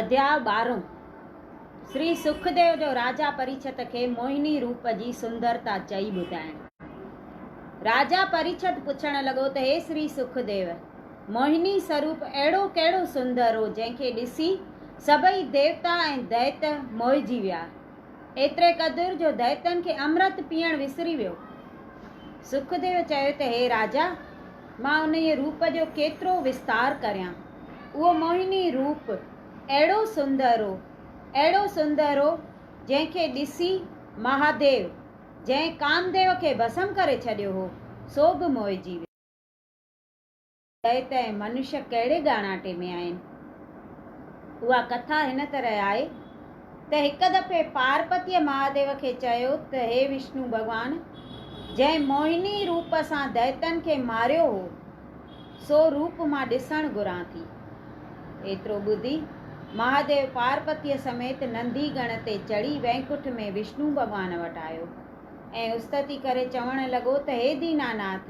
اڌياء ٻارهون، شري سکديو جو راجا پريڇت کي موهني روپ جي سندرتا چئي ٻڌائڻ. راجا پريڇت پڇڻ لڳو ته هي شري سکديو! موهني سروپ اهڙو ڪهڙو سندر هو جنهن کي ڏسي سڀئي ديوتا ۽ دئيت موهجي ويا، ايتري قدر جو دئيتن کي امرت پيئڻ وسري ويو. سکديو چيو ته هي راجا! مان انهيء روپ جو ڪيترو وستار ڪريان. اهو موهني روپ اهڙو سندرو، اهڙو سندرو جنهن کي ڏسي مهاديو، جنهن ڪامديو کي ڀسم ڪري ڇڏيو هو، سو به موهجي ويو. چئي ته اهي منش ڪهڙي ڳاڻاٽي ۾ آهن؟ اها ڪٿا هن طرح آهي ته هڪ دفعي پارپتيء مهاديو کي چيو ته هي وشنو ڀڳوان! جنهن موهني روپ سان دئتن کي ماريو هو، سو روپ مان ڏسڻ گهران ٿي. ايترو ٻڌي، مهاديو پارپتيء سميت نندي گڻ تي چڙهي وينڪٺ ۾ وشنو ڀڳوان وٽ آيو ۽ استتي ڪري چوڻ لڳو ته هي ديناناٿ!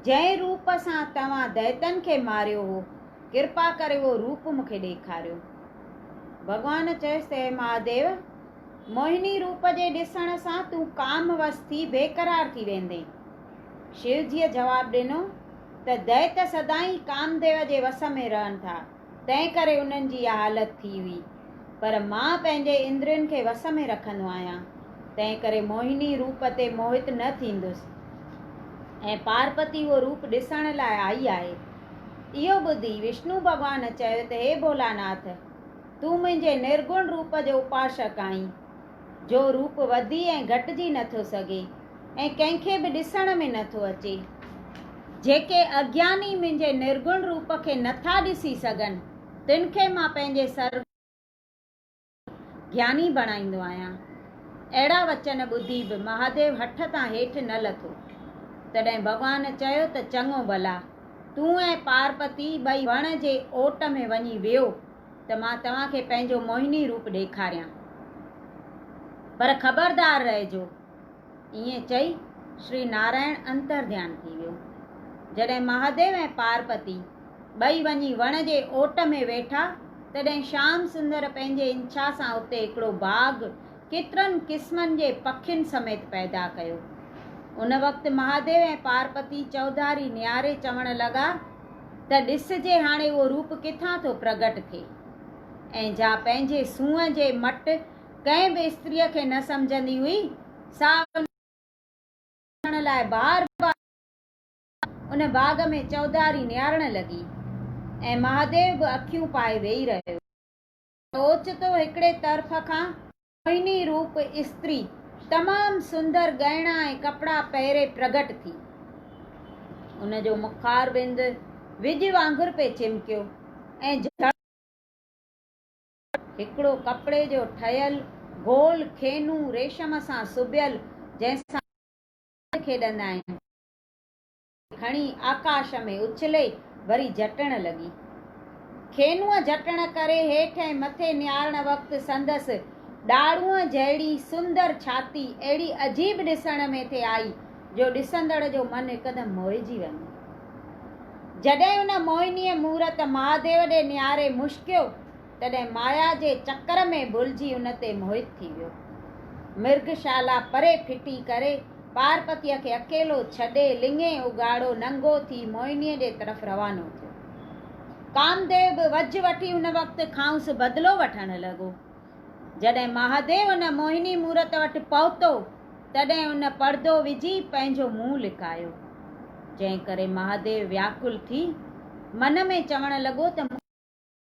جنهن روپ سان توهان دئتن کي ماريو هو، ڪرپا ڪري اهو روپ مون کي ڏيکاريو. ڀڳوان چيس ته اي مهاديو! موهني روپ جي ڏسڻ سان تون ڪام وس ٿي بيقرار ٿي ويندين. شيوجيء جواب ڏنو ته دئيت سدائين ڪامديو جي وس ۾ رهن ٿا، تنهن ڪري انهن جي اها حالت ٿي هئي. پر مان پنهنجي اندرين کي وس ۾ رکندو آهيان، تنهن ڪري موهني روپ تي موهت نه ٿيندس. ۽ پارپتي اهو روپ ڏسڻ لاء آئي آهي. اهو ٻڌي وشنو ڀڳوان چيو ته هي ڀولاناٿ! تون منهنجي نرگڻ روپ جو اپاشڪ آهين، جو روپ وڌي ۽ گهٽجي نه ٿو سگهي ۽ ڪنهن کي به ڏسڻ ۾ نه ٿو اچي. جيڪي اگياني منهنجي نرگڻ روپ کي نه ٿا ڏسي سگهن، تن کي مان پنهنجي سرگڻ روپ جو گياني بڻائيندو آهيان. اهڙا وچن ٻڌي به مهاديو هٺ تان هيٺ نه لٿو. تڏهن ڀڳوان چيو ته چڱو ڀلا، تون ۽ پارپتي ٻئي وڻ جي اوٽ ۾ وڃي ويهو. ته مان توهان کي پنهنجو موهني روپ ڏيکاريان. پر خبردار رهجو. ائين چئي شري نارائڻ انترڌيان ٿي ويو. جڏهن مهاديو ۽ پارپتي ٻئي وڃي وڻ جي اوٽ ۾ ويٺا تڏهن شيام سندر پنهنجي انڇا سان اتي هڪڙو باغ ڪيترن قسمن جي پکين سميت پيدا ڪيو. ان وقت مهاديو ۽ پارپتي چوڌاري نهاري چوڻ لڳا ته ڏسجي هاڻي اهو روپ ڪٿان ٿو پرگهٽ ٿئي ۽ جا پنهنجي سونهن جي مٽ ڪنهن به استريء کي نه سمجهندي هئي، سا ان کي ڏسڻ لاء بار بار ان باغ ۾ چوڌاري نهارڻ لڳي ۽ مهاديو به اکيون پائي ويهي رهيو. ته اوچتو هڪڙي طرف کان موهني روپ استري تمام سندر ڳهڻا ۽ ڪپڙا پهري پرگٽ ٿي. ان جو مخار بند وڄ وانگر پئي چمڪيو ۽ جهڙ جهڙ هڪڙو ڪپڙي جو ٺهيل گول کينو ريشم سان سبيل جنهن سان ٻار راند کيڏندا آهن، کڻي آڪاش ۾ اڇلي وري جهٽڻ لڳي. کينوء جهٽڻ ڪري هيٺ ۽ مٿي نهارڻ وقت سندس ڏاڙهونء جهڙي سندر ڇاتي اهڙي عجيب ڏسڻ ۾ ٿي آئي جو ڏسندڙ جو من هڪدم موهجي وڃي. جڏهن ان موهنيء مورت مهاديو ڏي نهاري مشڪيو، تڏهن مايا جي چڪر ۾ ڀلجي ان تي موهت ٿي ويو. مرگ شالا پري ڦٽي ڪري، پارپتيء کي اڪيلو ڇڏي، لڱي اگهاڙو ننگو ٿي موهنيء جي طرف روانو ٿيو. ڪامديو به وجهه وٺي ان وقت کانئس بدلو وٺڻ لڳو. جڏهن مهاديو ان موهني مورت وٽ پهتو، تڏهن ان پڙدو وجهي پنهنجو منهن لڪايو. جنهن ڪري مهاديو وياڪل ٿي، من ۾ چوڻ لڳو ته مون.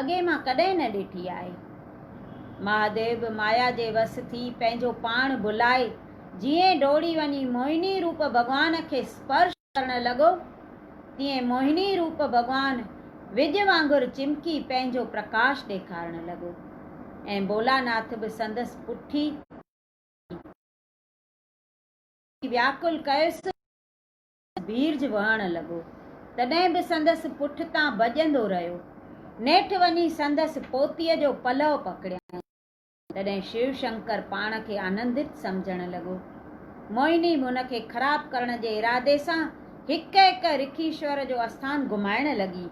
اڳي مان ڪڏهن نه ڏٺي آهي. مهاديو به مايا جي وس ٿي پنهنجو پاڻ ڀلائي جيئن ڊوڙي وڃي موهني روپ ڀڳوان کي اسپرش ڪرڻ لڳو تيئن موهني روپ ڀڳوان وڄ وانگر چمڪي پنهنجو پرڪاش ڏيکارڻ لڳو ۽ ڀولاناٿ به سندس پٺي پئجي وياڪل ڪيس. بيرج وهڻ لڳو، تڏهن به سندس پٺتان ڀڄندو رهيو. نيٺ وڃي سندس پوتيء جو پلئو پڪڙيائين. تڏهن شيو شنڪر پاڻ کي آنندت سمجهڻ لڳو. موهني هن کي خراب ڪرڻ جي ارادي سان هڪ هڪ رکيشور جو آسٿان گهمائڻ لڳي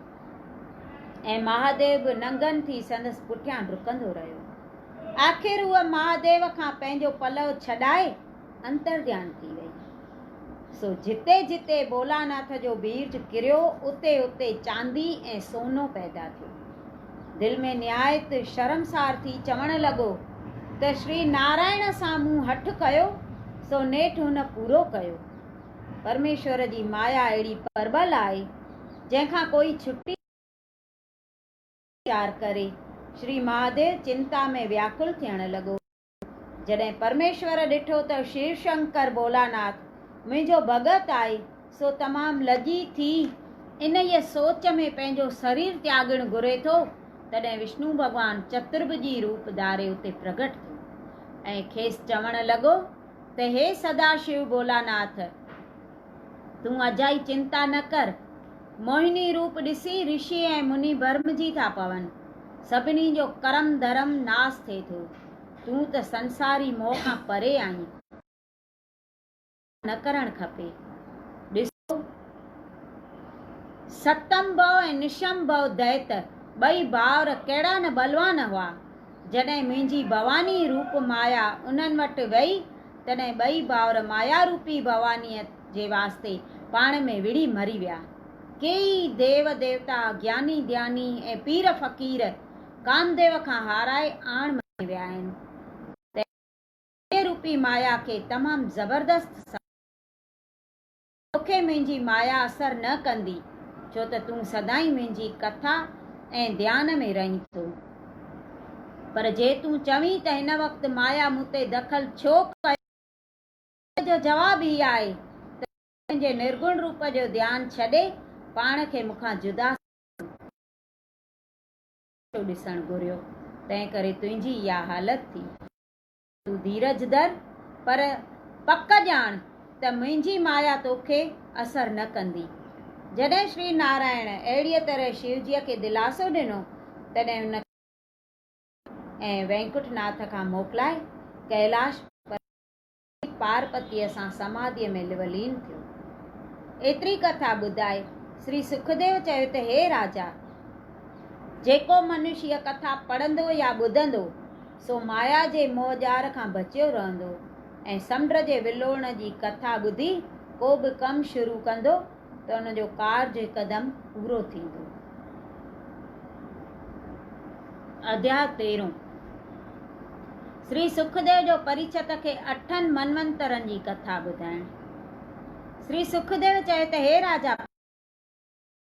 ۽ مهاديو به ننگن ٿي سندس پٺيان ڊڪندو رهيو. آخر هوء مهاديو کان پنهنجو پلئو ڇڏائي انترڌيان ٿي ويئي. سو جتي جتي ڀولاناٿ جو بيج ڪريو اتي اتي چاندي ۽ سونو پيدا ٿيو. دل ۾ نهايت شرمسار ٿي چوڻ لڳو ته شري نارائڻ سان مون هٺ ڪيو سو نيٺ هن پورو ڪيو. پرميشور جي مايا اهڙي پربل آهي جنهن کان ڪوئي ڇٽي نه سگهي ٿو. اهو ويچار ڪري شري مهاديو چنتا ۾ وياڪل ٿيڻ لڳو. جڏهن پرميشور ڏٺو ته شيو شنڪر ڀولاناٿ منهنجو ڀڳت آهي سو تمام لڄي ٿي انهيء سوچ ۾ پنهنجو سرير تياڳڻ گهري ٿو تڏهن وشنو ڀڳوان چترڀجي روپ ڌاري اتي پرگهٽ ٿيو ۽ کيس چوڻ لڳو ته هي سدا شيو ڀولاناٿ! تون اجائي چنتا نه ڪر. موهني روپ ڏسي رشي ۽ مني ڀرمجي ٿا پون. سڀني جو ڪرم ڌرم ناس ٿئي ٿو. تون ته سنساري موهه کان پري آهين. توکي ڪرڻ کپي. ڏسو ستمڀو ۽ نشمڀو دئت ٻئي ڀائر ڪهڙا نه ٻلوان هئا. جڏهن منهنجي ڀواني روپ مايا انهن وٽ ويئي تڏهن ٻئي ڀائر مايا روپي ڀوانيء جي واسطي پاڻ ۾ وڙهي مري ويا. ڪيئي ديو ديوتا، گياني ڌياني ۽ پير فقير ڪامديو کان هارائي آڻ مڃي ويا آهن. تنهن ڪري مايا روپي مايا کي تمام زبردست سزا ملي. توکي منهنجي مايا اثر نه ڪندي، ڇو ته تون سدائين منهنجي ڪٿا ۽ ڌيان ۾ رهين ٿو. پر جي تون چوين ته هن وقت مايا مون تي دخل ڇو ڪيو ٿي، ته ان جو جواب هي آهي ته تون پنهنجي نرگڻ روپ جو ڌيان ڇڏي پاڻ کي مون کان جدا سمجهين ٿو. مون تون کي ڪجهه به نه ٿو ڏسڻ گهريو، تنهن ڪري تنهنجي اها حالت ٿي. تون ڌيرجدر، پر پڪ ڄاڻ ته منهنجي مايا توکي اثر نه ڪندي. جڏهن شري نارائڻ اهڙيء طرح شيوجيء کي دلاسو ڏنو، تڏهن ان کي شيوجيء ۽ وينڪٽ ناٿ کان موڪلائي ڪئلاش پربت تي شيو پارپتيء سان سماڌيء ۾ لولين ٿيو. ايتري ڪٿا ٻڌائي شري سکديو چيو ته هي راجا! جيڪو منشيه ڪٿا پڙهندو يا ٻڌندو، سو مايا جي موهه ڄار کان بچيو رهندو ۽ سمنڊ جي ولوڙڻ جي ڪٿا ٻڌي ڪو به ڪم شروع ڪندو ته ان جو ڪارج هڪدم پورو ٿيندو. اڌياء تيرهون شري سکديو جو پريڇت کي اٺن منونترن جي ڪٿا ٻڌائڻ شري سکديو چئي ته هي راجا!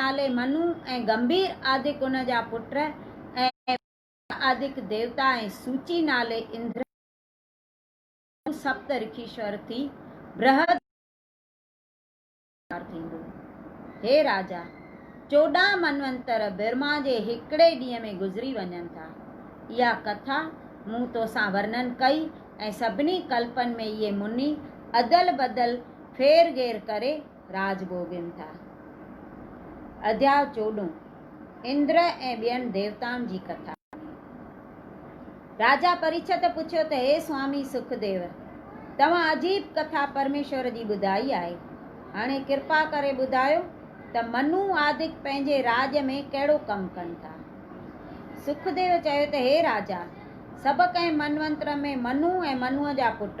نالي منو ۽ گنڀير آڌڪ ان جا پٽ ۽ ٻيا آڌڪ ديوتا ۽ سوچي نالي اندر ۽ منو سپت رکيشور ٿي برهد جي پوڄا ڪرڻ جو ڪم اختيار ٿيندو. هي راجا! چوڏهن منونتر برهما جي هڪڙي ڏينهن ۾ گذري وڃن ٿا. اها ڪٿا مون توسان ورنن ڪئي ۽ سڀني ڪلپن ۾ اهي مني ادل بدل ڦير گهير ڪري راڄ ڀوڳين ٿا. اديال چوڏهون، اندر ۽ ٻين ديوتائن جي ڪٿا ۾، راجا پريڇت پڇيو ته هي سوامي سک ديو، توهان عجيب ڪٿا پرميشور جي ٻڌائي آهي، هاڻي ڪرپا ڪري ٻڌايو ته منو آدڪ پنهنجي راڄ ۾ ڪهڙو ڪم ڪن ٿا؟ سک ديو چيو ته هي راجا، سڀ ڪنهن منونتر ۾ منو ۽ منوء جا پٽ،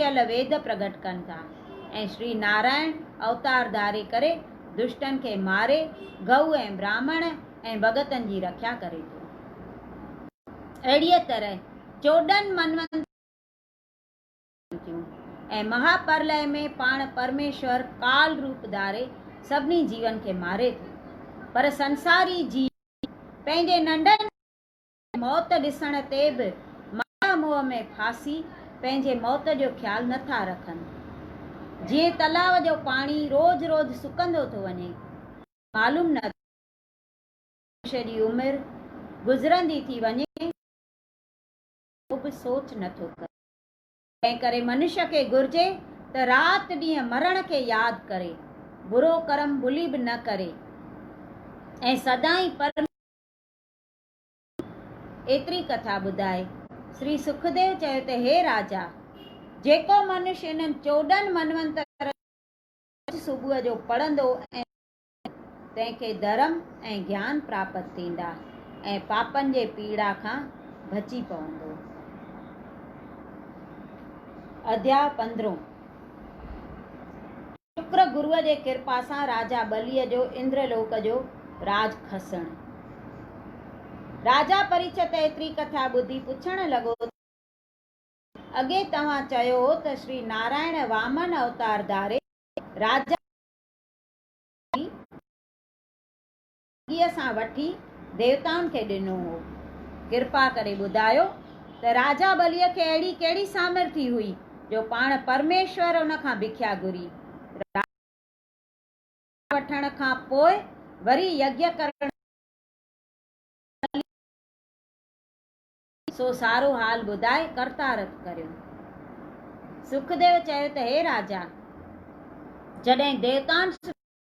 ڪيل ويد پرگٽ ڪن ٿا ۽ شري نارائڻ اوتار ڌاري ڪري دشٽن کي ماري گئو ۽ براهمڻ ۽ ڀڳتن جي رکيا ڪري ٿو. اهڙيء طرح چوڏهن منونترن جون ڪٿائون ٿيون ۽ مها پرلئه ۾ پاڻ پرميشور ڪال روپ ڌاري سڀني جيون کي ماري ٿو پر سنساري جيو پنهنجي ننڍن موت ڏسڻ تي به مايا موهه ۾ ڦاسي پنهنجي موت جو خيال نه ٿا رکن. جيئن تلاء جو پاڻي روز روز سڪندو ٿو وڃي ۽ معلوم نه ٿو پوي ته ڪيئن منشي جي عمر گذرندي ٿي وڃي ۽ هو ڪو به سوچ نه ٿو ڪري. تنهن ڪري منشي کي گهرجي ته رات ڏينهن مرڻ کي ياد ڪري، برو ڪرم ڀلي به نه ڪري ۽ سدائين پرميشور جي ايتري ڪٿا ٻڌائي شري سکديو چيو ته هي راجا! جيڪو منش انهن چوڏهن منونترن جو روز صبح جو پڙهندو ۽ سمجهندو، تنهن کي ڌرم ۽ گيان پراپت ٿيندا ۽ پاپن جي پيڙا کان بچي پوندو. اڌياء پندرهون. شڪر گروء جي ڪرپا سان راجا ٻليء جو اندر لوڪ جو راڄ کسڻ. راجا پريڇت ايتري ڪٿا ٻڌي پڇڻ لڳو ته. اڳي توهان چيو هو ته شري نارائڻ وامن اوتار ڌاري راجا ٻليء جي ڀڳت ٿي. ڪيء سان وٺي ديوتائن کي ڏنو هو. ڪرپا ڪري ٻڌايو ته راجا ٻليء کي اهڙي ڪهڙي سامرٿي هئي جو پاڻ پرميشور ان کان ڀکيا گهري. راجا ڀکيا وٺڻ کان پوء وري يگيا ڪرڻ لاء ٻليء کي ڏنو. سو سارو حال ٻڌائي ڪرتارٿ ڪريو. سکديو چيو ته هي راجا! جڏهن ديوتائن سان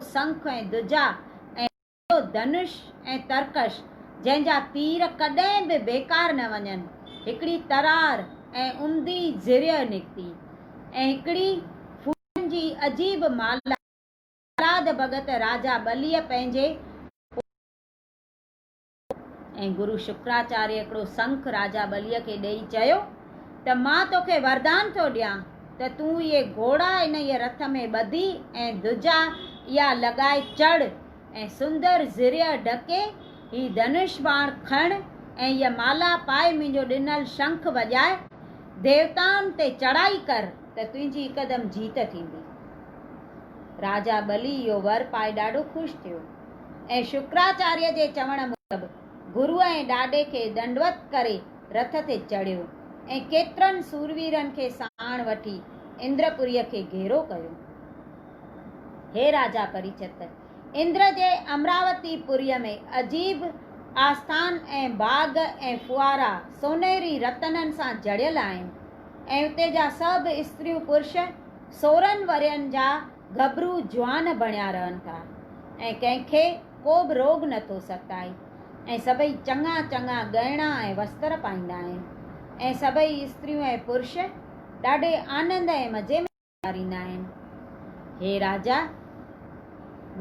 سنک ۽ دجا ۽ ڏيو دنش ۽ ترڪش، جنهن جا تير ڪڏهن به بيڪار نه وڃن، هڪڙي ترار ۽ عمدي زريع نڪتي، ۽ هڪڙي ڦولن جي عجيب مالها، جلاد ڀڳت راجا ٻليء پنهنجي اوڏ. ۽ گرو شڪراچاريه هڪڙو سنک راجا ٻليء کي ڏيئي چيو ته مان توکي وردان ٿو ڏيان ته تون اهي گهوڙا انهيء رٿ ۾ ٻڌي ۽ ڌجا اها لڳائي چڙهه ۽ سندر زرهيء ڍڪي هي ڌنش باڻ کڻ ۽ هيء مالا پائي منهنجو ڏنل شنک وڄاء ديوتائن تي چڙهائي ڪر ته تنهنجي هڪدم جيت ٿيندي. راجا ٻلي اهو ور پائي ڏاڍو خوش ٿيو. ۽ شڪراچاريه جي چوڻ موجب گرو ۽ ڏاڏي کي ڏنڊوت ڪري رٿ تي چڙهيو ۽ ڪيترن سورويرن کي ساڻ وٺي اندرپوريء کي گهيرو ڪيو. هي راجا پريچت! اندر جي امراوتي پوريء ۾ عجيب آستان ۽ باغ ۽ ڦوهارا سونهري رتنن سان جڙيل آهن ۽ اتي جا سڀ استريون پرش سورهن ورهين جا گهٻرو جوان بڻيا رهن ٿا ۽ ڪنهن کي ڪو به روڳ نه ٿو ستائي ۽ سڀئي چڱا چڱا ڳهڻا ۽ وستر پائيندا آهن ۽ سڀئي استريون ۽ پرش ڏاڍي آنند ۽ مزي ۾ گذاريندا آهن. هي راجا!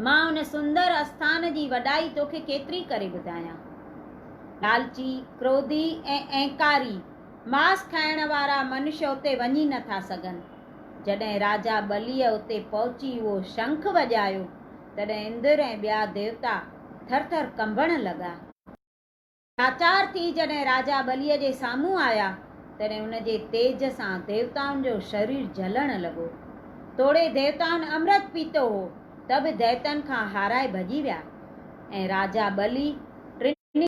مان ان سندر اسٿان جي وڏائي توکي ڪيتري ڪري ٻڌايان. لالچي، ڪروڌي ۽ اهنڪاري، ماس کائڻ وارا منش اتي وڃي نه ٿا سگهن. جڏهن راجا ٻليء اتي پهچي اهو شنک وڄايو، تڏهن اندر ۽ ٻيا ديوتا ٿر ٿر ڪنبڻ لڳا. لاچار ٿي جڏهن راجا ٻليء جي سامهون آيا، تڏهن ان جي تيج سان ديوتائن جو شرير جلڻ لڳو. توڙي ديوتائن امرت پيتو هو، ته به ديتن کان هارائي ڀڄي ويا، ۽ راجا ٻلي ٽنهي.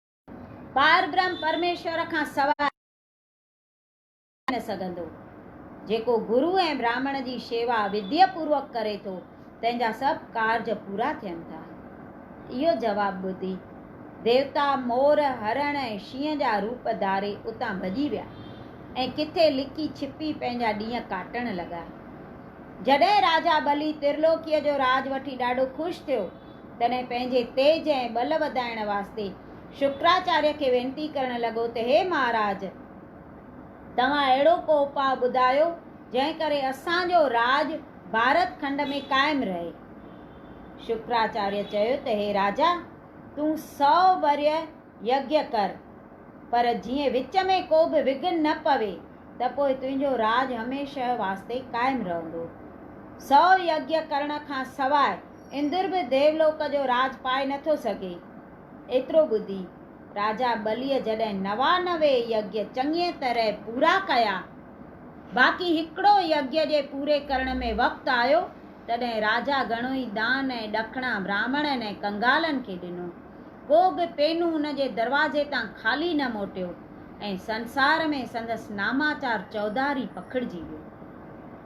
پاربرهم پرميشور کان سواء ڪو ٿي نه سگهندو. جيڪو گرو ۽ براهمڻ جي شيوا وڌيء پوروڪ ڪري ٿو، تنهن جا سڀ ڪارج پورا ٿين ٿا. اهو جواب ٻڌي، ديوتا، مور، هرڻ ۽ شينهن جا روپ ڌاري اتان ڀڄي ويا ۽ ڪٿي لڪي ڇپي پنهنجا ڏينهن ڪاٽڻ لڳا. جڏهن راجا ٻلي ترلوڪيء جو راڄ وٺي ڏاڍو خوش ٿيو، تڏهن پنهنجي تيج ۽ ٻل وڌائڻ واسطي شڪراچاريه کي وينتي ڪرڻ لڳو ته هي مهاراج! توهان اهڙو ڪو اپاء ٻڌايو، جنهن ڪري اسان جو راڄ ڀارت کنڊ ۾ قائم رهي. شڪراچاريه چيو ته هي راجا! تون سؤ ورهيه يگيا ڪر، پر جيئن وچ ۾ ڪو به وگهن نه پوي، ته پوء تنهنجو راڄ هميشه واسطي قائم رهندو. سؤ يگيا ڪرڻ کان سواء اندر به ديولوڪ جو راڄ پائي نه ٿو سگهي. ايترو ٻڌي، راجا ٻليء جڏهن نوانوي يگيا چڱيء طرح پورا ڪيا، باقي هڪڙو يگيا جي پوري ڪرڻ ۾ وقت آيو، تڏهن راجا گهڻو ئي دان ۽ ڏکڻا براهمڻن ۽ ڪنگالن کي ڏنو. ڪو به پينو ان جي دروازي تان خالي نه موٽيو ۽ سنسار ۾ سندس ناماچار چوڌاري پکڙجي ويو.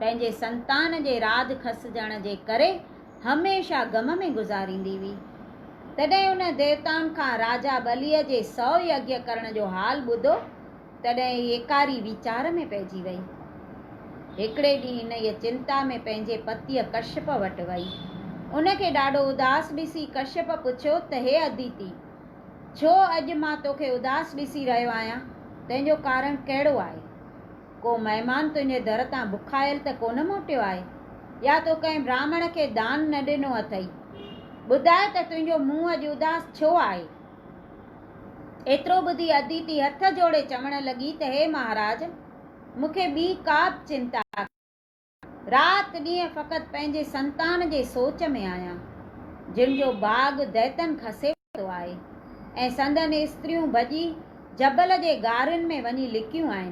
پنهنجي سنتان جي راڄ کسجڻ جي ڪري هميشه غم ۾ گذاريندي هئي. تڏهن ان ديوتائن کان راجا ٻليء جي سؤ يگيء ڪرڻ جو حال ٻڌو، تڏهن هي ايڪاري ويچار ۾ پئجي ويئي. هڪڙي ڏينهن انهيء چنتا ۾ پنهنجي پتيء ڪشيپ وٽ وئي. ان کي ڏاڍو اداس ڏسي ڪشيپ پڇيو ته هي اديتي! ڇو اڄ مان توکي اداس ڏسي رهيو آهيان؟ تنهنجو ڪارڻ ڪهڙو آهي؟ ڪو مهمان تنهنجي در تان بکايل ته ڪونه موٽيو آهي؟ يا تو ڪنهن براهمڻ کي دان نه ڏنو اٿئي؟ ٻڌاء ته تنهنجو منهن اڄ اداس ڇو آهي؟ ايترو ٻڌي اديتي هٿ جوڙي چوڻ لڳي ته هي مهاراج! مون کي ٻي ڪا به چنتا ڪانهي. رات ڏينهن فقط پنهنجي سنتان جي سوچ ۾ آهيان، جن جو باغ دئتن کسي ورتو آهي ۽ سندن استريون ڀڄي جبل جي غارين ۾ وڃي لڪيون آهن،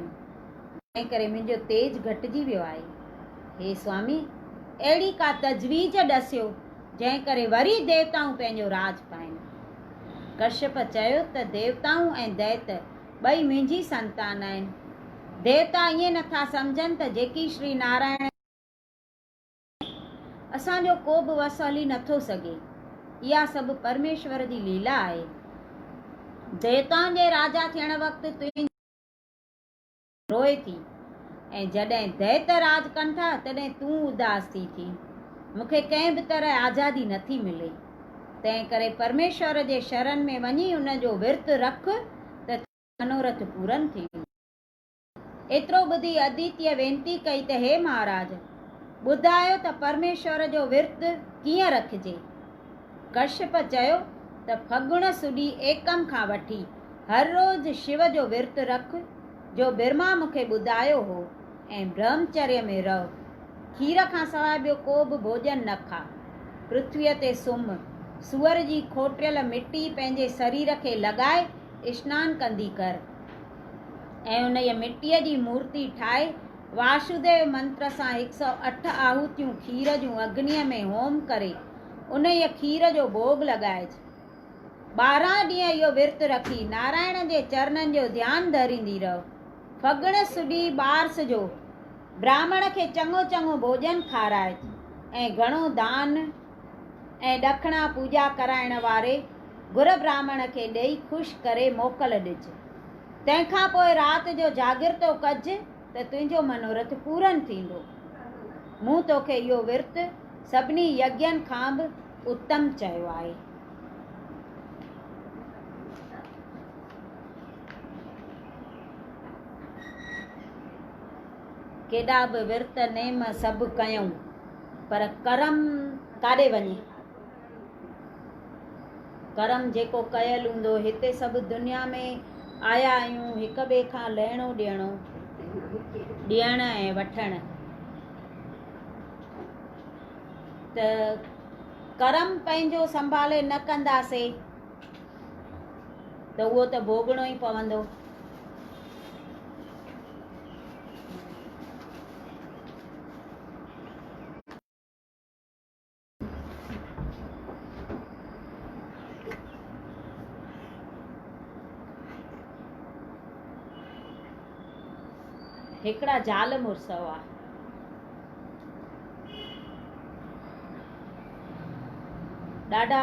جنهن ڪري منهنجو تيج گهٽجي ويو آهي. هي سوامي! اهڙي ڪا تجويز ڏسيو، جنهن ڪري وري ديوتائون پنهنجو راڄ پائين. ڪشيپ چيو ته ديوتائون ۽ دئت ٻئي منهنجي سنتان آهن. ديوتا ائين نه ٿا سمجهن ته جيڪي شري نارائڻ جي سيوا ڪري ٿو اسان جو ڪو به وس هلي نه ٿو سگهي. اها سڀ پرميشور جي ليلا آهي. ديوتائن جي راجا ٿيڻ وقت تنهنجي لاء ڌرتي روئي ٿي ۽ جڏهن ديوت راڄ ڪن ٿا تڏهن تون اداس ٿي ٿي. مون کي ڪنهن به طرح آزادي نه ٿي ملي. تنهنڪري پرميشور جي شرن ۾ وڃي ان جو ورت رک ته تنهنجا منورٿ پورن ٿيندا. ايترو ٻڌي اديتيء وينتي ڪئي ته هي مهاراج! ٻڌايو ته پرميشور جو ورت ڪيئن رکجي؟ ڪشيپ چيو ته ڦڳڻ سوڍي ايڪم کان وٺي هر روز شو جو ورت رک جو برهما مون کي ٻڌايو هو. ۽ برهمچريء ۾ رهه. کير کان سواء ٻيو ڪو به ڀوڄن نه کاء. پرٿويء تي سمهه. سوئر جي کوٽيل مٽي پنهنجي سرير کي لڳائي اشنان ڪندي ڪر ۽ انهيء مٽيء جي مورتي ٺاهي واشوديو منتر سان هڪ سؤ اٺ آهوتيون کير جون اگنيء ۾ هوم ڪري انهيء کير جو ڀوڳ لڳائج. ٻارهن ڏينهن اهو ورت رکي نارائڻ جي چرنن جو ڌيان ڌريندي رهه. ڦڳڻ سڏي ٻارس جو، براهمڻ کي چڱو چڱو ڀوڄن کارائت ۽ گهڻو دان ۽ ڏکڻا پوڄا ڪرائڻ واري گهر براهمڻ کي ڏيئي خوش ڪري موڪل ڏج. تنهن کان پوء رات جو جاڳرتو ڪج ته تنهنجو منورٿ پورن ٿيندو. مون توکي اهو ورت سڀني يگين کان به اتم چيو آهي. ڪيڏا به ورت نيم سڀ ڪيون، پر ڪرم ڪاڏي وڃي؟ ڪرم جيڪو ڪيل هوندو، هتي سڀ دنيا ۾ آيا آهيون هڪ ٻئي کان لهڻو ڏيڻو، ڏيڻ ۽ وٺڻ ته ڪرم پنهنجو سنڀالي نه ڪنداسين. ته اهو ته ڀوڳڻو ئي پوندو. هڪڙا زال مڙس هئا. ڏاڍا.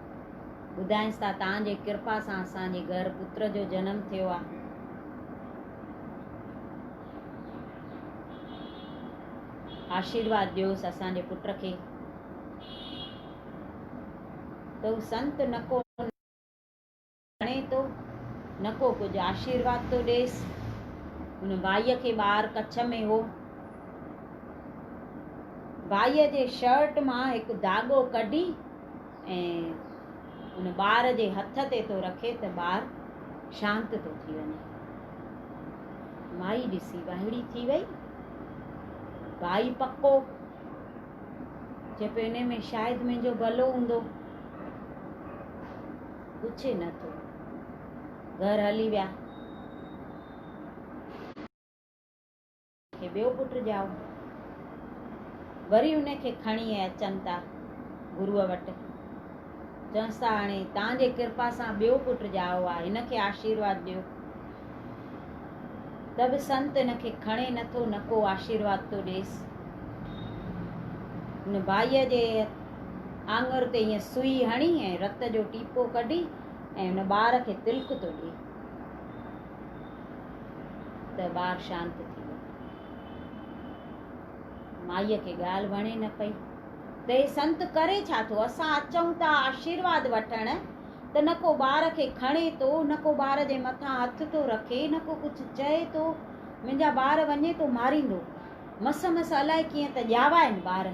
ٻڌائينس ته توهان جي ڪرپا سان اسان جي گهر پتر جو جنم ٿيو آهي. آشيرواد ڏيوس اسان جي پٽ کي. تو سنت نڪو ڄاڻي ٿو نه ڪو ڪجهه آشيرواد ٿو ڏيس. هن ڀائيء کي ٻار ڪڇ ۾ هو. ڀائيء جي شرٽ مان هڪ داڳو ڪڍي ۽ ان ٻار جي هٿ تي ٿو رکي ته ٻار شانت ٿو ٿي وڃي. مائي ڏسي وهڙي ٿي وئي. ڀائي پڪو چئي پيو انهي ۾ شايد منهنجو ڀلو هوندو. پڇي نه ٿو. گهر هلي ويا. کي ٻيو پٽ ڄائو. وري ان کي کڻي ۽ اچن ٿا گروء وٽ. چونس ٿا هاڻي تان جي ڪرپا سان ٻيو پٽ ڄائو آ. هن کي آشيرواد ڏيو. ته به سنت هن کي کڻي نه ٿو نه ڪو آشيرواد ٿو ڏيس. هن ڀائيء جي آڱر تي ائين سوئي هڻي ۽ رت جو ٽيپو ڪڍي ۽ ان ٻار کي تلڪ ٿو ڏئي ته ٻار شانت ٿي ويو مائيء کي ڳالهه وڻي نه پئي ته هي سنت ڪري ڇا ٿو اسان اچون ٿا آشيرواد وٺڻ ته نه ڪو ٻار کي کڻي ٿو نه ڪو ٻار جي مٿان هٿ ٿو رکي نه ڪو ڪجهه چئي ٿو منهنجا ٻار وڃي ٿو ماريندو مس مس الائي ڪيئن ته ڄاوا آهن ٻار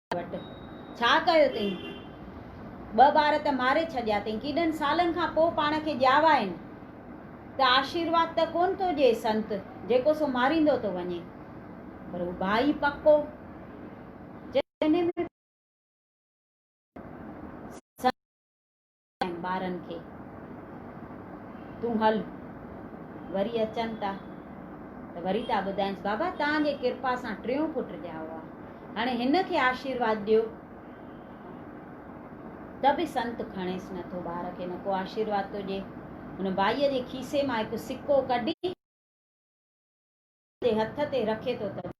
وٽ ڇا ڪيو تئين؟ ٻه ٻار ته ماري ڇڏيا تئين، ڪيڏن سالن کان پوء پاڻ کي ڄاوائين ته آشيرواد ته ڪونه ٿو ڏئي سنت، جيڪو سو ماريندو ٿو وڃي. پر هو ڀائي پڪو، جنهن ۾ سنت ۽ ٻارن کي تون هل وري اچن ٿا ته وري ٿا ٻڌائينس بابا توهان جي ڪرپا سان ٽيون پٽ ڄائو آ هاڻي هن کي آشيرواد ڏيو ته به سنت کڻيس نه ٿو ٻار کي نه ڪو آشيرواد ٿو ڏي هن ڀائي جي کيسي مان هڪ سڪو ڪڍي جي هٿ تي رکي ٿو ته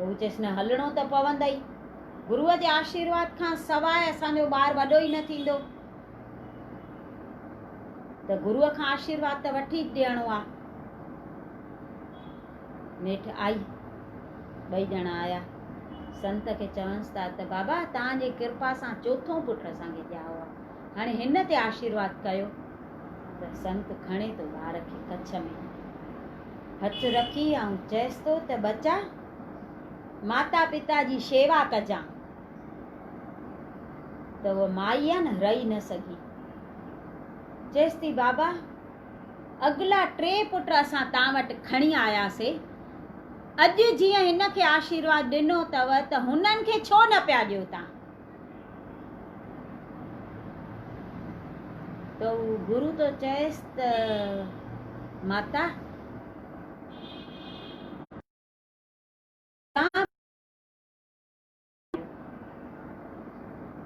هو چيس نه هلڻو ته پوندئي. گروء جي آشيرواد کان سواء اسان جو ٻار وڏو ئي نه ٿيندو ته گروء کان آشيرواد ته وٺي ڏيڻو آ. نيٺ آئي. ٻئي ڄڻا آيا. سنت کي چونس ٿا ته بابا توهان جي ڪرپا سان چوٿون پٽ اسان کي ڄائو آ. هاڻي هن تي آشيرواد ڪيو ته سنت کڻي ٿو ٻار کي ڪڇ ۾. هٿ رکي آئون چيس ٿو ته ٻچا ماتا پتا جي شيوا ڪجان ته هوء مائي آ نه رئي نه سگهي چيس ٿي بابا اڳلا ٽي پٽ اسان تان وٽ کڻي آياسي اڄ جيئن هن کي آشيرواد ڏنو اٿو ته هنن کي ڇو نه پيا ڏيو تان گرو ٿو چئيس ته ماتا!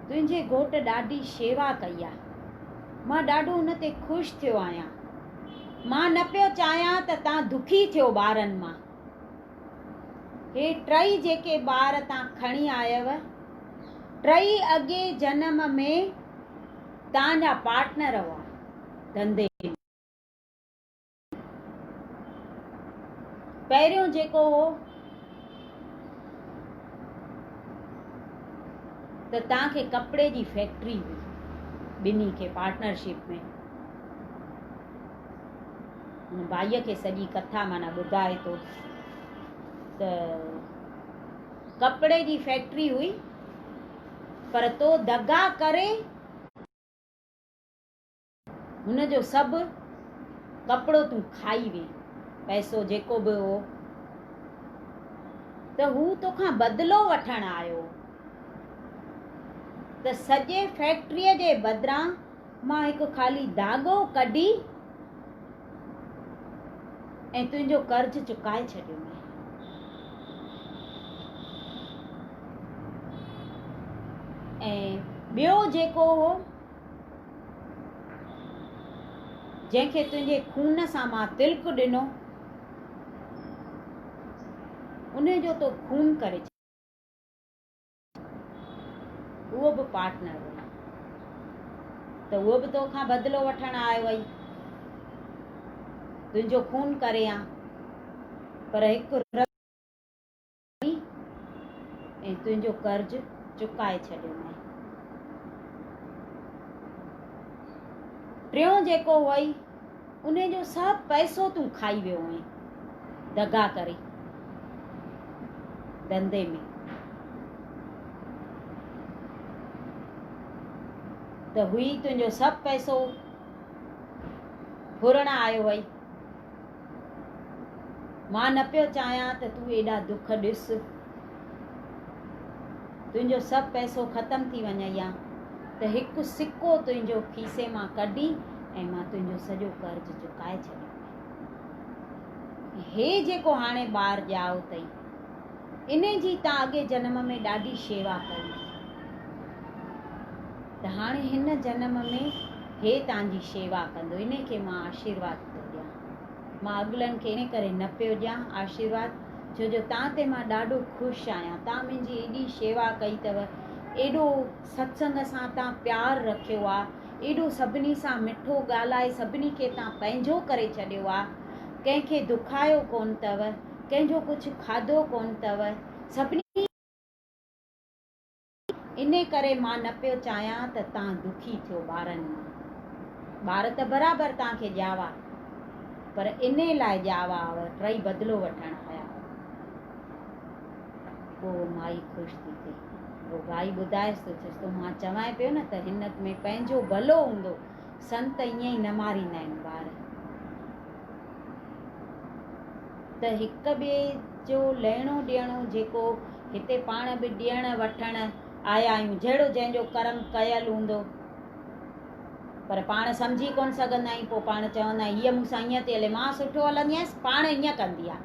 تنهنجي گهوٽ ڏاڍي شيوا ڪئي آهي. مان ڏاڍو ان تي خوش ٿيو آهيان. مان نه پيو چاهيان ته تان دکي ٿيو ٻارن مان. هي ٽئي جيڪي ٻار تان کڻي آيئو، ٽئي اڳئين جنم ۾ تان جا پارٽنر هئا ڌنڌي ۾. پهريون جيڪو هو ته تان کي ڪپڙي جي فيڪٽري هئي، ٻنهي کي پارٽنرشپ ۾. هن ڀائيء کي سڄي ڪٿا معنيٰ ٻڌائي ٿو ته ڪپڙي جي فيڪٽري هئي پر تو دغا ڪري هن جو سڀ ڪپڙو تون کائي وئين پئسو جيڪو به هو ته هو توکان بدلو وٺڻ آيو ته سڄي فيڪٽريء جي بدران مان هڪ خالي داڳو ڪڍي ۽ تنهنجو قرض چڪائي ڇڏيو مين. ۽ ٻيو جيڪو هو جنهن کي تنهنجي خون سان مان تلڪ ڏنو ان جو تو خون ڪري ڇڏيو. اهو به پارٽنر هئي ته اهو به تو کان بدلو وٺڻ آيو هئي. تنهنجو خون ڪري هان. پر هڪ رڳ ۾ ۽ تنهنجو قرض چڪائي ڇڏيو مئين. ٽيون جيڪو هئي. انهي جو سڀ پئسو تون کائي ويو هئين دغا ڪري ڌنڌي ۾ ته هئي تنهنجو سڀ پئسو ڦرڻ آيو هئي مان نه پيو چاهيان ته تون ايڏا دک ڏس. تنهنجو سڀ پئسو ختم ٿي وڃئي ها ته هڪ سڪو تنهنجو کيسي مان ڪڍي ۽ مان تنهنجو سڄو قرض چڪائي ڇڏيندين. هي جيڪو هاڻي ٻار ڄائو اٿئي، انهي جي تان اڳئين جنم ۾ ڏاڍي شيوا ڪئي هئي، ته هاڻي هن جنم ۾ هي تان جي شيوا ڪندو، انهي کي مان آشيرواد ٿو ڏيان. مان اڳلن کي ان ڪري نه پيو ڏيان آشيرواد ڇو جو تان تي مان ڏاڍو خوش آهيان. تان منهنجي ايڏي شيوا ڪئي اٿو، ايڏو ستسنگ سان تان پيار رکيو آ، ايڏو سڀني سان مٺو ڳالهائي سڀني کي تان پنهنجو ڪري ڇڏيو آ، ڪنهن کي دکايو ڪونه اٿو، ڪنهن جو ڪجهه کاڌو ڪونه اٿو، سڀني. انهي ڪري مان نه پيو چاهيان ته تان دکي ٿيو ٻارن مان. ٻار ته برابر تان کي ڄاوا پر انهي لاء ڄاوا ٽئي بدلو وٺڻ آيا هئا. پوء مائي خوش ٿي ٿئي. رباعي ٻڌائيس ٿو چيس تو مان چوانء پيو نه ته هن ۾ پنهنجو ڀلو هوندو. سنت ائين ئي نه ماريندا آهن ٻار ته هڪ ٻئي جو لهڻو ڏيڻو جيڪو هتي پاڻ به ڏيڻ وٺڻ آيا آهيون جهڙو جنهن جو ڪرم ڪيل هوندو پر پاڻ سمجهي ڪونه سگهندا آهيون پوء پاڻ چوندا آهيون هيء مون سان ائين ٿي هلي مان سٺو هلندي آهيس پاڻ ائين ڪندي آهي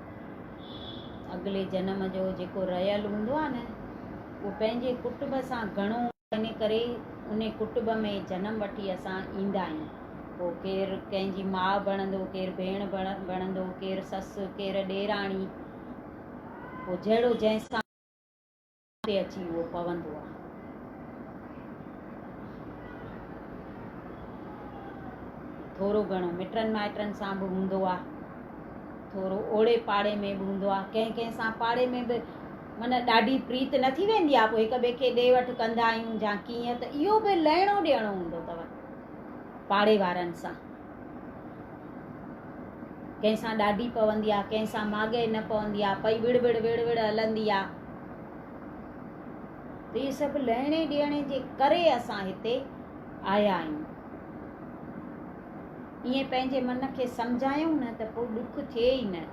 اڳلي جنم جو جيڪو رهيل هوندو آهي نه اهو پنهنجي ڪٽب سان گهڻو ان ڪري ان ڪٽب ۾ جنم وٺي اسان ايندا آهيون پوء ڪير ڪنهن جي ماء بڻندو ڪير ڀيڻ بڻندو ڪير سس ڪير ڏيراڻي پوء جهڙو جنهن سان تي اچي اهو پوندو آهي. ٿورو گهڻو مٽن مائٽن سان به هوندو آهي. ٿورو اوڙي پاڙي ۾ به هوندو آهي. ڪنهن ڪنهن سان پاڙي ۾ به من ڏاڍي پريت نه ٿي ويندي آهي. پوء هڪ ٻئي کي ڏي وٺ ڪندا آهيون جا ڪيئن ته اهو به لهڻو ڏيڻو هوندو اٿو پاڙي وارن سان. ڪنهن سان ڏاڍي پوندي آ، ڪنهن سان ماڳهئي نه پوندي آ، پئي وڙ وڙ وڙ وڙ هلندي آ. ته اهي سڀ لهڻي ڏيڻي جي ڪري اسان هتي آيا آهيون. ائين پنهنجي من کي سمجهايون نه ته پوء ڏک ٿئي ئي نه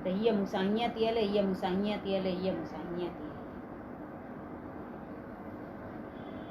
ته هيء مون سان هيئن ٿي هلي، هيء مون سان هيئن ٿي هلي، هيء مون سان هيئن ٿي هلي.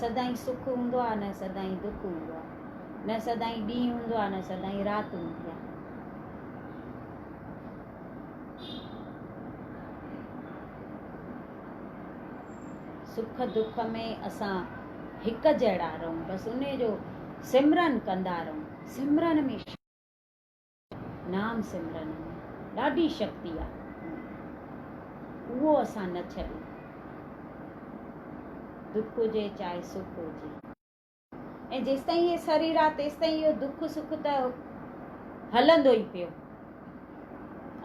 سدائين سک هوندو آهي نه سدائين دک هوندو آهي نه سدائين ڏينهن هوندو آهي نه سدائين رات هوندي آهي. سک دک ۾ اسان هڪ جهڙا رهون بس انهي جو سمرن ڪندا رهون سمرن ۾ نام سمرن ۾ ڏاڍي شڪتي آهي اهو اسان نه ڇڏيون دک هجي چاهي سک هجي. ۽ جيستائين هي سرير آهي تيستائين اهو دک سک ته هلندو ئي پيو.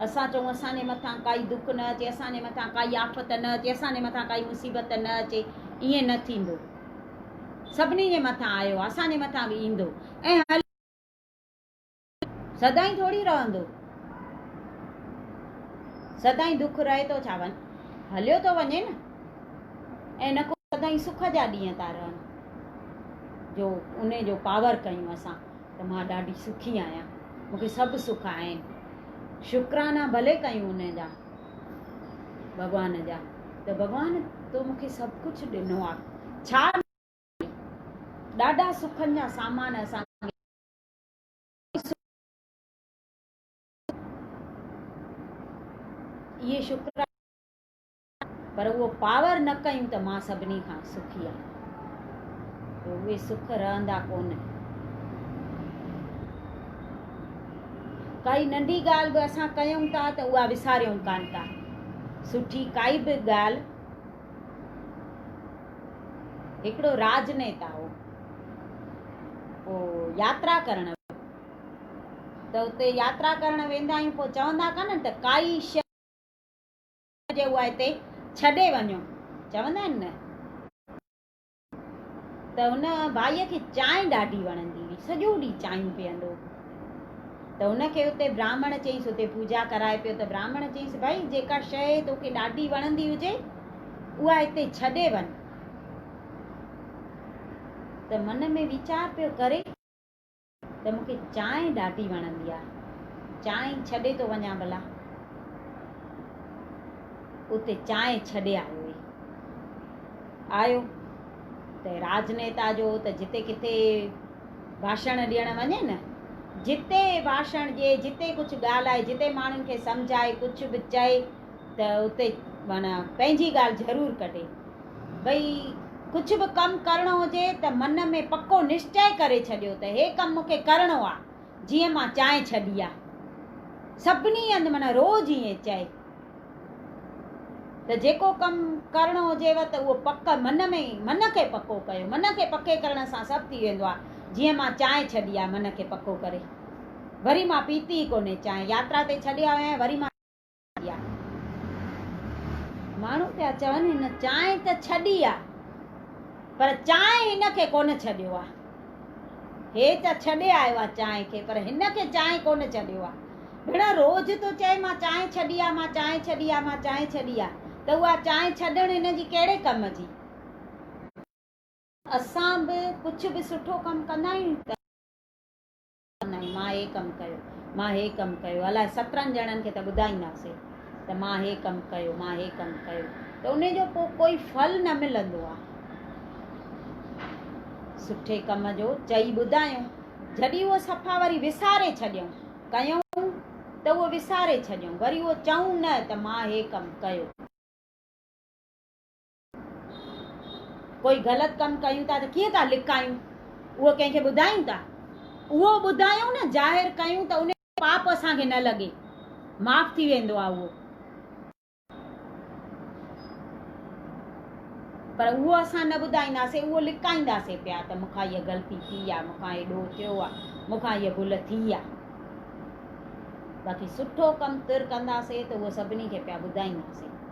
اسان چئون اسان جي مٿان ڪائي دک نه اچي اسان جي مٿان ڪائي آفت نه اچي اسان جي مٿان ڪائي مصيبت نه اچي ائين نه ٿيندو سڀني جي مٿان آيو آهي اسان جي مٿان به ايندو ۽ هلندو سدائين ٿوري رهندو. سدائين دک رهي ٿو ڇا ون هليو ٿو وڃي نه ۽ نه ڪو سدائين سک جا ڏينهن ٿا رهن جو ان جو پاور ڪيون اسان ته مان ڏاڍي سکي آهيان مونکي سڀ سک آهن شڪرانا ڀلي ڪيون ان جا ڀڳوان جا ته ڀڳوان تو مونکي سڀ ڪجهه ڏنو آهي ڇا ڏاڍا سکن جا سامان اسان اهي شڪرانه آهن پر اهو پاور نه ڪيون ته مان سڀني کان سکي آهيان جو اهي سک رهندا ڪونه ڪائي ننڍي ڳالهه به اسان ڪيون ٿا ته اها وساريون ڪانه ٿا سٺي ڪائي به ڳالهه هڪڙو راڄنيتا هو. پوء ياترا ڪرڻ ته اتي ياترا ڪرڻ ويندا آهيون پوء چوندا ڪانن ته ڪائي شيء هجي اها هتي ڇڏي وڃو چوندا آهن نه ته ان ڀائيء کي چانهه ڏاڍي وڻندي هئي، سڄو ڏينهن چانهيون پيئندو هو. ته ان کي اتي براهمڻ چيس، اتي پوڄا ڪرائي پيو ته براهمڻ چيس، ڀائي جيڪا شيء توکي ڏاڍي وڻندي هجي، اها هتي ڇڏي وڃ. ته من ۾ ويچار پيو ڪري. ته مون کي چانهه ڏاڍي وڻندي آ. چانهه ئي ڇڏي ٿو وڃان ڀلا. اتي چانهه ڇڏي آيو هي. آيو ته راجنيتا جو ته جتي ڪٿي ڀاشڻ ڏيڻ وڃي نه، جتي ڀاشڻ ڏئي، جتي ڪجهه ڳالهائي، جتي ماڻهن کي سمجهائي، ڪجهه به چئي، ته اتي معنيٰ پنهنجي ڳالهه ضرور ڪڍي. ڀئي ڪجهه به ڪم ڪرڻو هجي ته من ۾ پڪو نشچئه ڪري ڇڏيو ته هي ڪم مون کي ڪرڻو آ جيئن مان چانهه ڇڏي آ. سڀني هنڌ معنيٰ روز ائين چئي ته جيڪو ڪم ڪرڻو هجيو ته اهو پڪ من ۾ ئي من کي پڪو ڪيو. من کي پڪي ڪرڻ سان سڀ ٿي ويندو آ. جيئن مان چانهه ڇڏي آ من کي پڪو ڪري. وري مان پيتي ئي ڪونهي چانهه. ياترا تي ڇڏي آيو آهيان وري مان. ماڻهو پيا چون هن چانهه ته ڇڏي آ پر چانهه هن کي ڪونه ڇڏيو آ هي ته ڇڏي آيو آ چانهه کي پر هن کي چانهه ڪونه ڇڏيو آ ڀيڻ روز تو چئي مان چانهه ڇڏي آ مان چانهه ڇڏي آ مان چانهه ڇڏي آ ته اها چانهه ڇڏڻ هن جي ڪهڙي ڪم جي اسان به ڪجهه به سٺو ڪم ڪندا آهيون ته ڪنائين مان هي ڪم ڪيو مان هي ڪم ڪيو الائي سترهن ڄڻن کي ته ٻڌائينداسي ته مان هي ڪم ڪيو مان هي ڪم ڪيو ته ان جو پوء ڪوئي ڦل نه ملندو آ سٺي ڪم جو چئي ٻڌايون جڏي هو صفا وري وساري ڇڏيون ڪيون ته هو وساري ڇڏيون وري هو چئون نه ته مان هي ڪم ڪيو. ڪوئي غلط ڪم ڪيون ٿا ته ڪيئن ٿا لڪايون اهو ڪنهن کي ٻڌايون ٿا اهو ٻڌايون نه ظاهر ڪيون ته ان پاپ اسان کي نه لڳي معاف ٿي ويندو آهي اهو پر اهو اسان نه ٻڌائينداسي اهو لڪائينداسي پيا ته مون کان هيء غلطي ٿي آهي مون کان هيڏو ٿيو آهي مون کان هيء ڀل ٿي آهي باقي سٺو ڪم تر ڪنداسي ته اهو سڀني کي پيا ٻڌائينداسي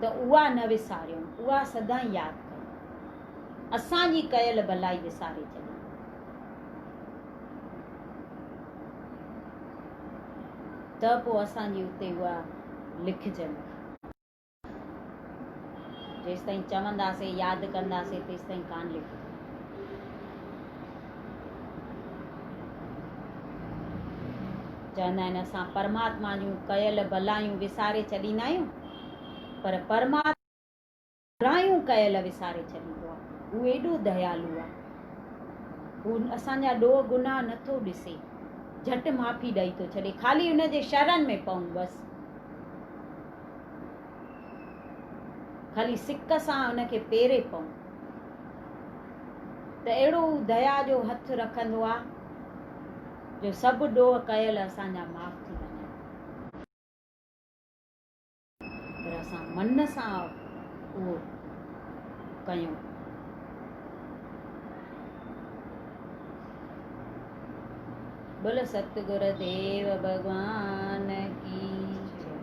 ته اها نه وساريون، اها سدائين ياد ڪيون. اسان جي ڪيل ڀلائي وساري ڇڏيون. ته پوء اسان جي اتي اها لکجن. جيستائين چونداسين، ياد ڪنداسين، تيستائين ڪانه لکجن. چوندا آهن اسان پرماتما جون ڪيل ڀلايون وساري ڇڏيندا آهيون پر پرماتما برايون ڪيل وساري ڇڏيندو آهي هو ايڏو ديالو آهي هو اسان جا ڏوهه گناهه نه ٿو ڏسي جهٽ معافي ڏئي ٿو ڇڏي خالي ان جي شرن ۾ پئون بس خالي سڪ سان ان کي پيري پئون ته اهڙو هو ديا جو هٿ رکندو آ جو سڀ ڏوهه ڪيل اسان جا معاف ٿي وڃن. پر اسان من سان اهو ڪيون. بول ستگر ديو ڀڳوان ڪي جئي.